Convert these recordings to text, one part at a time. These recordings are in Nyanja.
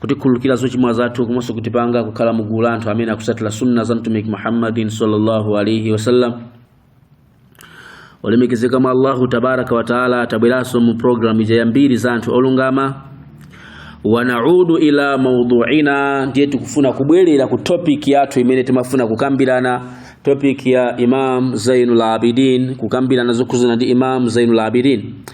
kutikhululukira zochimwa zathu komanso kutipanga kukhala mugulu la anthu amene akusatira sunna za mtumiki muhammadin sallallahu alaihi wasallam olemekezeka mwa allahu tabaraka wataala atabweranso mu pulogalamu ija yambiri za anthu olungama wanaudu ila mauduina ndiye tikufuna kubwerera ku topic yathu imene timafuna kukambirana topic ya imam zainul abidin kukambirana zokhuzana ndi imam zainul abidin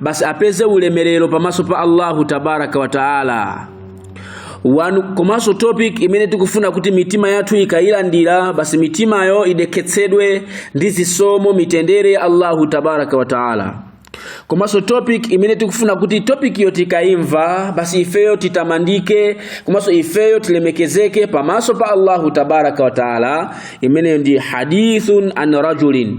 basi apeze ulemerero pamaso pa allahu tabaraka wa taala komanso topic imene tikufuna kuti mitima yathu ikayilandira basi mitimayo idekhetsedwe ndi zisomo mitendere ya allahu tabaraka wa taala komanso topic imene tikufuna kuti topic yo tikayimva basi ifeyo titamandike komanso ifeyo tilemekezeke pamaso pa allahu tabaraka wa taala imeneyo ndi hadithun an rajulin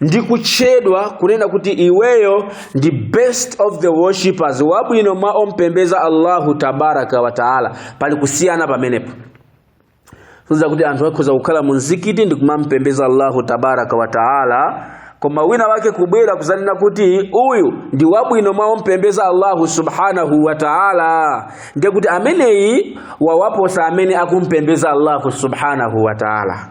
ndi kutchedwa kunena kuti iweyo ndi best of the worshippers wabwino mwa ompembeza allahu tabaraka wa taala pali kusiyana pamenepo kunena kuti anthu akhoza kukhala mu mzikiti ndi kumampembeza allahu tabaraka wa taala koma wina wake kubwera kuzanena kuti uyu ndi wabwino mwa ompembeza allahu subhanahu wa taala ndiye kuti ameneyi wawaposa amene akumpembeza allahu subhanahu wa taala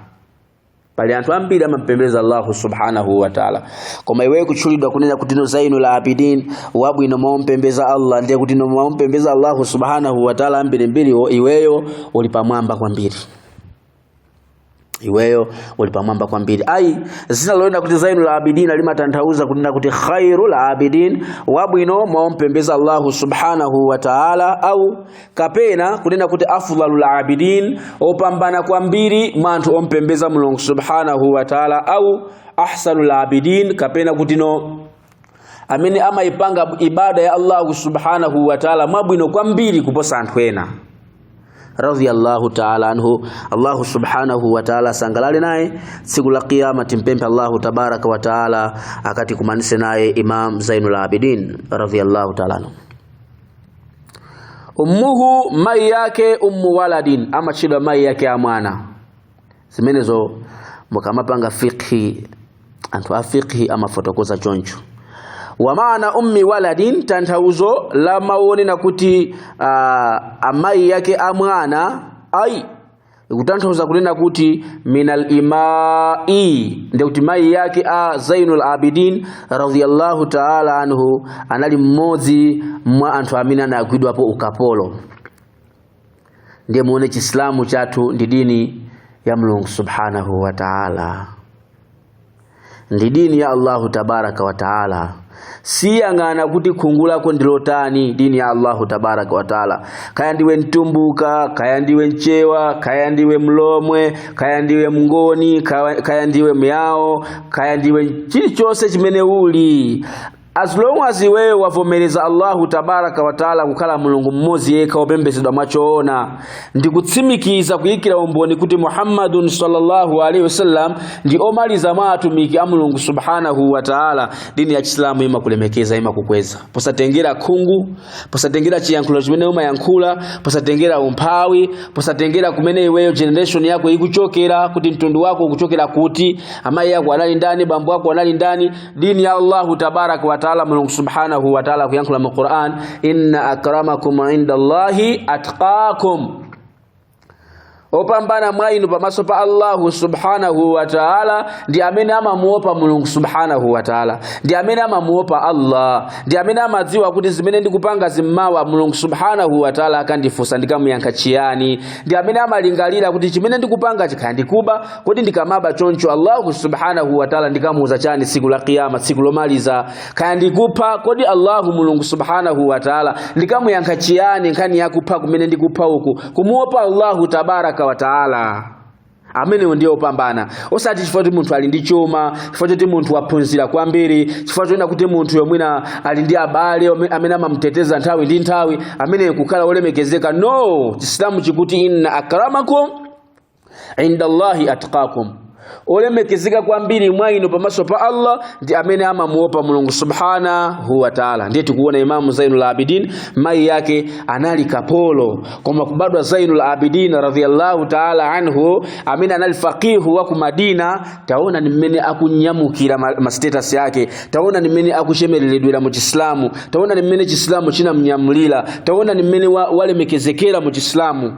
pali anthu ambiri amampembeza allahu subhanahu wataala koma iweyo kutchulidwa kunena kuti no zainul abidin wabwino mwaompembeza allah ndiye kuti no mwaompembeza allahu subhanahu wataala ambirimbiriwo iweyo uli pamwamba kwambiri iweyo uli pamwamba kwambiri ayi dzina lonena kuti zainul abidin limatanthauza kunena kuti khairul abidin wabwino mwaompembeza allahu subhanahu wataala au kapena kunena kuti afdalul abidin opambana kwambiri mwa anthu ompembeza mulungu subhanahu wa taala au ahsanul abidin kapena kuti no amene amayipanga ibada ya allahu subhanahu wa taala mwabwino kwambiri kuposa anthu ena radhiyallahu ta'ala anhu Allahu subhanahu wa ta'ala sangalale naye siku la kiyama timpempe Allahu tabaraka wa ta'ala akati kumanise naye Imam Zainul Abidin radhiyallahu ta'ala anhu ummuhu mayi yake ummu waladin amatchedwa mayi yake a mwana zimenezo mukamapanga fiqhi anthu a fiqhi amafotokoza choncho wa maana ummi waladin tanthauzo la mawu onena kuti uh, amayi yake a mwana ai ikutanthauza kunena kuti minal imai ndiye kuti mayi yake a zainul abidin radhiyallahu taala anhu anali mmodzi mwa anthu amene anagwidwapo ukapolo ndiye muone chisilamu chathu ndi dini ya mulungu subhanahu wa taala ndi dini ya Allahu tabaraka wa taala siyang'ana kuti khungu lako ndilotani dini ya Allahu tabaraka wa taala kaya ndiwe mtumbuka kaya ndiwe mchewa kaya ndiwe mlomwe kaya ndiwe mngoni kaya, kaya ndiwe myao kaya ndiwe chilichonse chimene uli as long as iweyo wavomereza allahu tabaraka wataala kukhala mulungu mmodzi yekha wopembedzedwa mwachoona ndi kutsimikiza kuyikira umboni kuti muhammadun sallallahu alaihi wasallam ndi omaliza mwa atumiki a mulungu subhanahu wataala dini ya chisilamu imakulemekeza imakukweza posatengera khungu posatengera chiyankhulo chimene umayankhula posatengera umphawi posatengera kumene iweyo generation yako ikuchokera kuti mtundu wako ukuchokera kuti amayi ako anali ndani bambo ako anali ndani dini ya allahu tabaraka wataala mulungu subhanahu wataala kuyankhula mu quran inna akramakum inda allahi atqakum opambana mwa inu pamaso pa allahu subhanahu wa taala ndi amene amamuopa mulungu subhanahu wa taala ndi amene amamuopa allah ndi amene amadziwa kuti zimene ndikupangazi mmawa mulungu subhanahu wa taala akandifunsa ndikamuyankha chiyani ndi amene amalingalira kuti chimene ndikupangachi kaya ndikuba kodi ndikamaba choncho allahu subhanahu wa taala ndikamuuza chani tsiku la kiyama tsiku lomaliza kaya ndikupha kodi allahu mulungu subhanahu wataala ndikamuyankha chiyani nkhani yakupha kumene ndikupha uku kumuopa allahu tabaraka wataala amenewo ndiye opambana osati chifukwa kuti munthu ali ndi chuma chifukwa choti munthu waphunzira kwambiri chifukwa choonena kuti munthuyo mwina ali ndi abale amene amamuteteza nthawi ndi nthawi ameneyo kukhala olemekezeka no chisilamu chikuti inna akramakum inda Allahi atqakum olemekezeka kwambiri mwa inu pamaso pa Allah ndi amene amamuopa Mulungu subhanahu wa ta'ala. Ndiye tikuona Imamu Zainul Abidin mai yake anali kapolo, koma kubadwa Zainul Abidin radhiyallahu ta'ala anhu amene anali faqihu wa ku Madina, taona ni mmene akunyamulira ma, ma status yake, taona ni mmene akuchemeleledwera mu Chislamu, taona ni mmene Chislamu chinamnyamulira, taona ni mmene wa, walemekezekera mu Chislamu.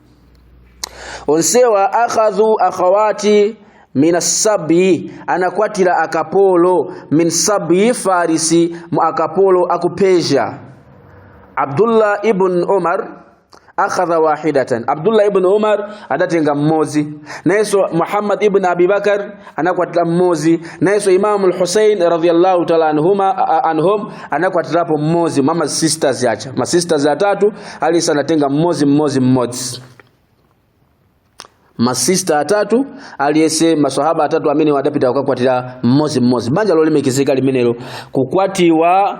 onsewa akhadhu akhawati min asabi anakwatira akapolo min sabi farisi mu akapolo aku persia abdullah ibn umar akhadha wahidatan abdullah ibn umar adatenga mmodzi nayenso muhammad ibn abibakar anakwatira mmodzi nayenso imamu lhusein radiallahu taala anhuma a- anhum anakwatirapo mmodzi mwa masisters acha masisters atatu aliyese anatenga mmodzi mmodzi mmodzi masista atatu aliyese maswahaba atatu amenewo adapita kukakwatira mmodzi mmodzi banja lolemekezeka limenelo kukwatiwa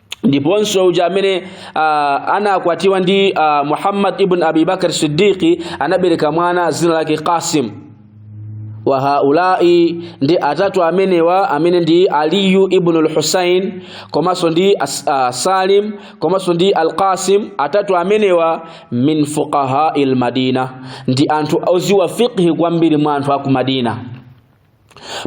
ndiponso uja amene uh, anakwatiwa ndi uh, muhammad ibn abi bakr siddiqi anabereka mwana dzina lake qasim wa haulai ndi atatu amenewa amene ndi aliyu ibn al-husain komanso ndi as, uh, salim komanso ndi al-qasim atatu amenewa min fuqahai al-madina ndi anthu oziwa fiqhi kwambiri mwa anthu aku madina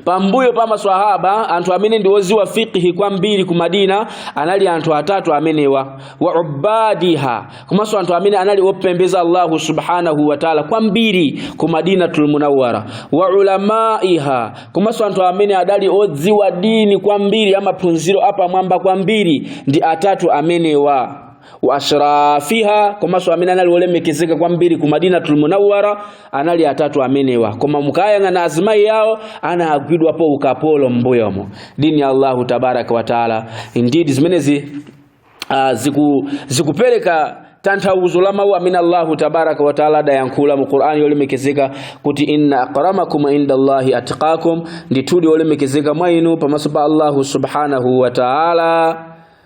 pambuyo pa maswahaba anthu amene ndi oziwa fiqhi kwambiri ku madina anali anthu atatu amenewa wa ubadiha komanso anthu amene anali opembeza allahu subhanahu wa taala kwambiri ku madinatul munawwara wa ulamaiha komanso anthu amene adali odziwa dini kwambiri a maphunziro apamwamba kwambiri ndi atatu amenewa wa ashrafiha komanso amene anali olemekezeka kwambiri ku madinatul munawwara anali atatu amenewa koma mukayang'ana azimayi yawo anagwidwapo ukapolo m'mbuyomo dini ya allahu tabaraka wataala indeed zimenezi uh, ziku, zikupereka tanthauzo la mawu amene allahu tabaraka wataala adayankhula mu qur'ani yolemekezeka kuti inna akramakum inda allahi atqakum ndithudi olemekezeka mwa inu pamaso pa allahu subhanahu wataala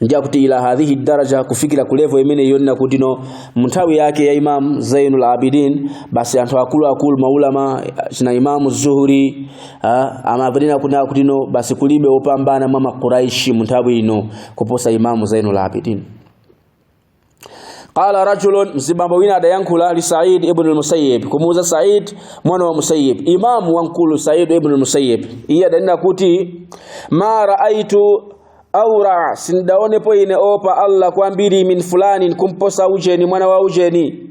njakuti ila hadhihi daraja kufikira ku level imene yonena kuti no munthawi yake ya imam zainul abidin basi anthu akulu akulu maulama ngati imamu zuhuri ah, amavomereza kunena kuti no basi kulibe opambana mwa makuraishi munthawi ino kuposa imamu zainul abidin qala rajulun mzibambo wina adayankhula li said ibn al-musayyib kumuuza said mwana wa musayyib imamu wamkulu said ibn al-musayyib iye adanena kuti ma raaitu aura'a sindaonepo ine opa allah kwambiri min fulanin kumposa ujeni mwana wa ujeni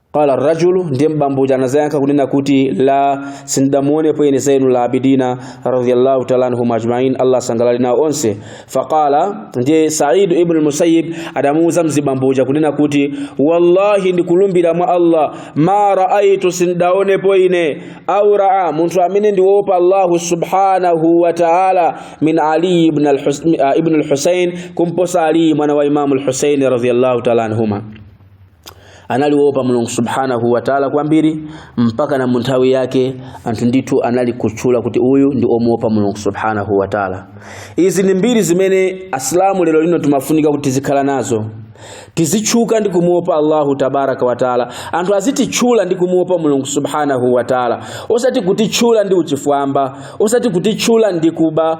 qala rajulu ndiye mzibambo uja anazayankha kunena kuti la sindamuonepo ine zainu la abidina radhiyallahu ta'ala anhum ajma'in allah asangalale nawo onse faqala ndiye sa'id ibn al-musayyib adamuuza mzibambo uja kunena kuti wallahi ndikulumbira mwa allah ma ra'aytu sindaonepo ine aura'a munthu amene ndiwopa allah subhanahu wa ta'ala min ali ibn al-husayn kumposa ali mwana wa imam al-husayn radhiyallahu ta'ala anhuma anali woopa mulungu subhanahu wataala kwambiri mpaka na munthawi yake anthu ndithu anali kutchula kuti uyu ndi omuopa mulungu subhanahu wataala izi ndi mbiri zimene asilamu lero lino timafunika kuti tizikhala nazo tizitchuka ndi kumuopa allahu tabaraka wataala anthu azititchula ndi kumuopa mulungu subhanahu wataala osati kutitchula ndi uchifwamba osati kutitchula ndi kuba